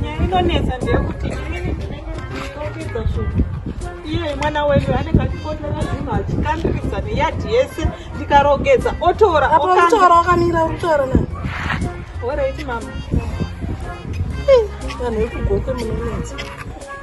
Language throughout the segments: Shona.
nyaya inonetsa ndeyekuti inini ndinenge ndikokidza zvinhu iye mwana wenyu anenge achikondera zvinhu achikandirisa neyadhi yese ndikarogedza otora otora wakamira kutora na oreiti mama vanhu vekugoke munonetsa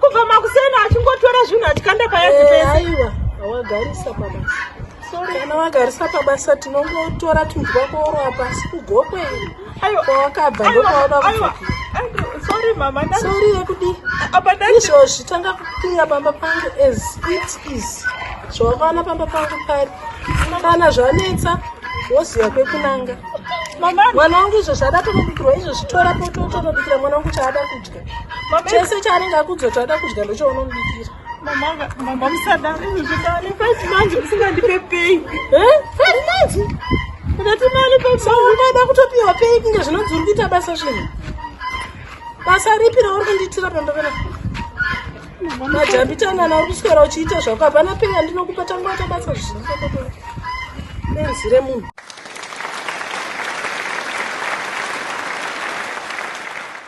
Kubva makuseni achingotora zvinhu achikanda payazi eh, pese. Aiwa, awagarisa pabasa. Sorry, kana wagarisa pabasa tinongotora tunhu twako oro apa asi kugokwe. Aiwa, kwawakabva ndokwawada kudzokera. Sorry mama, ndati. Sorry yekudi. Apa ndati. Izvozvi tanga kupinda pamba pangu as it is. Zvawakaona pamba pangu pari. Kana zvanetsa woziva kwekunanga. Mama, mwana wangu izvozvi ada kunobikirwa izvozvi tora poto utonobikira mwana wangu chaada kudya. chese chaanenge akudzoti ada kudya ndochaunomubikira mama musadaro zvikani five months musingandipe pay five months ndati mali paisaada kutopiwa pay kunge zvinonzi uri kuita basa zvinhu basa ripi rauri kundiitira pandovera majambitanana uri kuswera uchiita zvako hapana pay andinokupa tangoita basa zvinhu benzi remunhu